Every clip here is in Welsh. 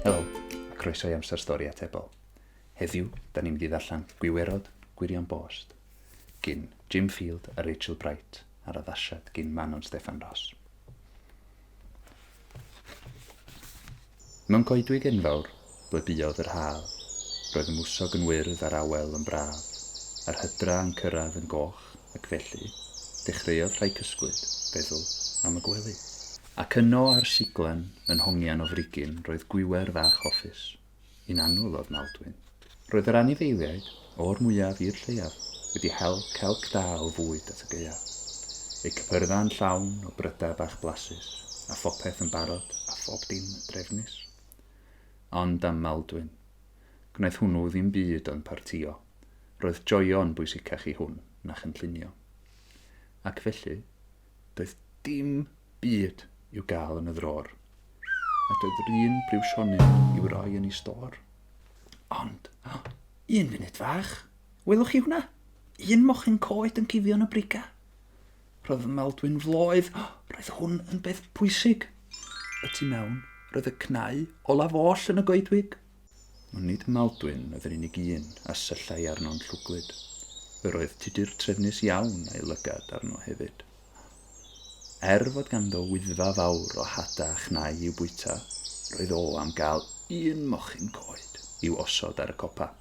Helo, a croeso i Amser Stori Atebol. Heddiw, da ni'n mynd i ddarllen Gwiwerod Gwirion Bost, gyn Jim Field a Rachel Bright, a'r addasiad gyn Manon Steffan Ross. Mewn coedwig enfawr ble buodd yr haf, roedd y mwsog yn wyrdd a'r awel yn braf, a'r hydra yn cyrraedd yn goch, ac felly, dechreuodd rhai cysglyd feddwl am y gwely. Ac yno ar siglen, yn hongian o frigyn, roedd gwiwer fach hoffus, Yn annwyl ofnawdwyn, roedd yr anifeiliaid, o'r mwyaf i'r lleiaf, wedi hel celc da o fwyd at y gaeaf. Eu cypyrddau yn llawn o brydau bach blasus, a phopeth yn barod a phob dim yn drefnus. Ond am Maldwyn. Gwnaeth hwnnw ddim byd ond partïo. Roedd joio yn bwysicach i hwn na chynllunio. Ac felly, Doedd dim byd i'w gael yn y ddrôr. Nad oedd yr un briwsionyn i'w roi yn ei stôr. Ond, un funud fach, welwch chi hwnna? Un mochyn coed yn cuddio yn y briga. Roedd fy Maldwyn floedd, roedd hwn yn beth pwysig. Y tu mewn, roedd y cnau olaf oll yn y goedwig. Ond nid Maldwyn oedd yr unig un a syllai arno'n llwglyd. Yr oedd Tudur trefnus iawn a'i lygad arno hefyd. Er fod ganddo Wyddfa fawr o hada a chnau i'w bwyta, roedd o am gael un mochyn coed i'w osod ar y copa.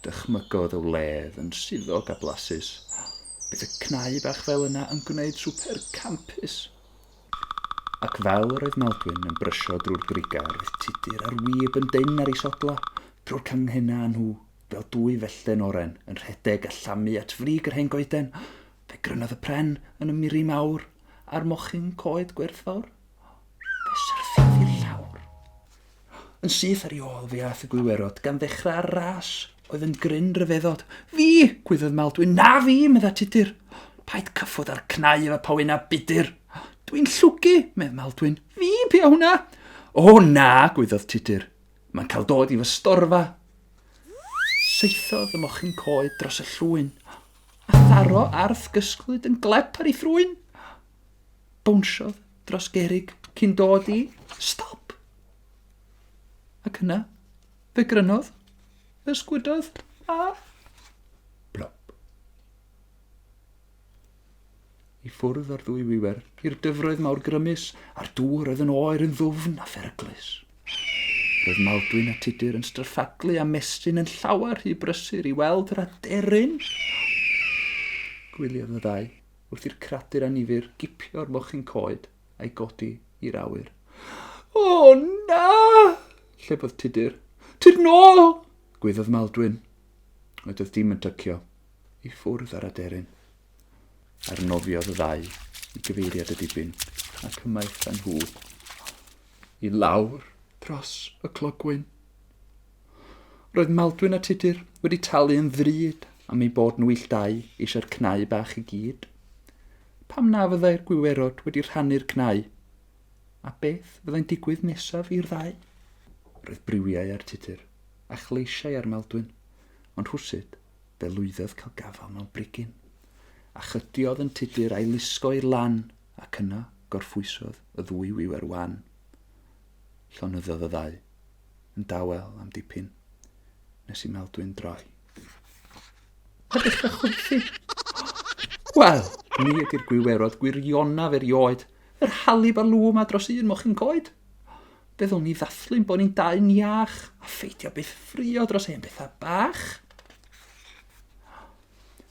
Dychmygodd y wledd yn suddog a blasus. Bydd y cnau bach fel yna yn gwneud swper campus! Ac fel yr oedd Maldwyn yn brysio drwy'r grugau yr oedd Tudur a'r wib yn dynn ar ei sodlau drwy'r canghennau â nhw fel dwy fellten oren yn rhedeg a llamu at frig yr hen goeden. Fe grynodd y pren yn y miri mawr a'r mochyn coed gwerthfawr. Fe syrthiodd i'r llawr. Yn syth ar ei ôl fe aeth y gwiwerod, gan ddechrau'r ras oedd yn gryn ryfeddod. Fi! gwyddwyd Maldwyn. Na fi! medda Tudur. Paid cyffwrdd â'r cnau efo powyn a budur. Dwi'n llwgu! medd Maldwyn. Fi! Pia hwnna? O na! gwyddwyd Tudur. Mae'n cael dod i fy storfa. Saethodd y mochyn coed dros y llwyn, a tharo arth gysglyd yn glep ar ei thrwyn. bownsiodd dros gerrig cyn dod i stop. Ac yna, fe grynodd, fe sgwydodd a... blop. I ffwrdd ar ddwy wiwer, i'r dyfroedd mawr grymus, a'r dŵr oedd yn oer yn ddwfn a pheryglus. Roedd Maldwyn a Tudur yn stryffaglu a mestyn yn llawer rhy brysur i weld yr aderyn. Gwyliodd y ddau. wrth i'r cradur anifyr gipio'r mochyn coed a'i godi i'r awyr. O, na! llefodd Tudur. Tudur nôl! gwyddodd Maldwyn. Oedd oedd dim yn tycio i ffwrdd ar aderyn. Arnofiodd y ddau i gyfeiriad y dibyn ac ymaith â nhw i lawr dros y clogwyn. Roedd Maldwyn a Tudur wedi talu yn ddrud am eu bod nhw illtau eisiau'r cnau bach i gyd. Pam na fyddai'r gwiwerod wedi rhannu'r cnau? A beth fyddai'n digwydd nesaf i'r ddau? Roedd briwiau ar Tudur, a chleisiau ar Maldwyn, ond rhwsut, fe lwyddodd cael gafael mewn brigyn. A chydiodd yn Tudur a'i lusgo i'r lan, ac yna gorffwysodd y ddwy wiwer wan. Llonyddodd y ddau. yn dawel am dipyn nes i Meldwyn droi. Pa beth da chwerthu? Wel, ni ydy'r gwiwerod gwirionaf erioed, yr halib a lŵm a dros un mochyn coed. Byddwn ni ddathlu'n bod ni'n dau niach a pheidio byth ffrio dros hen bethau bach.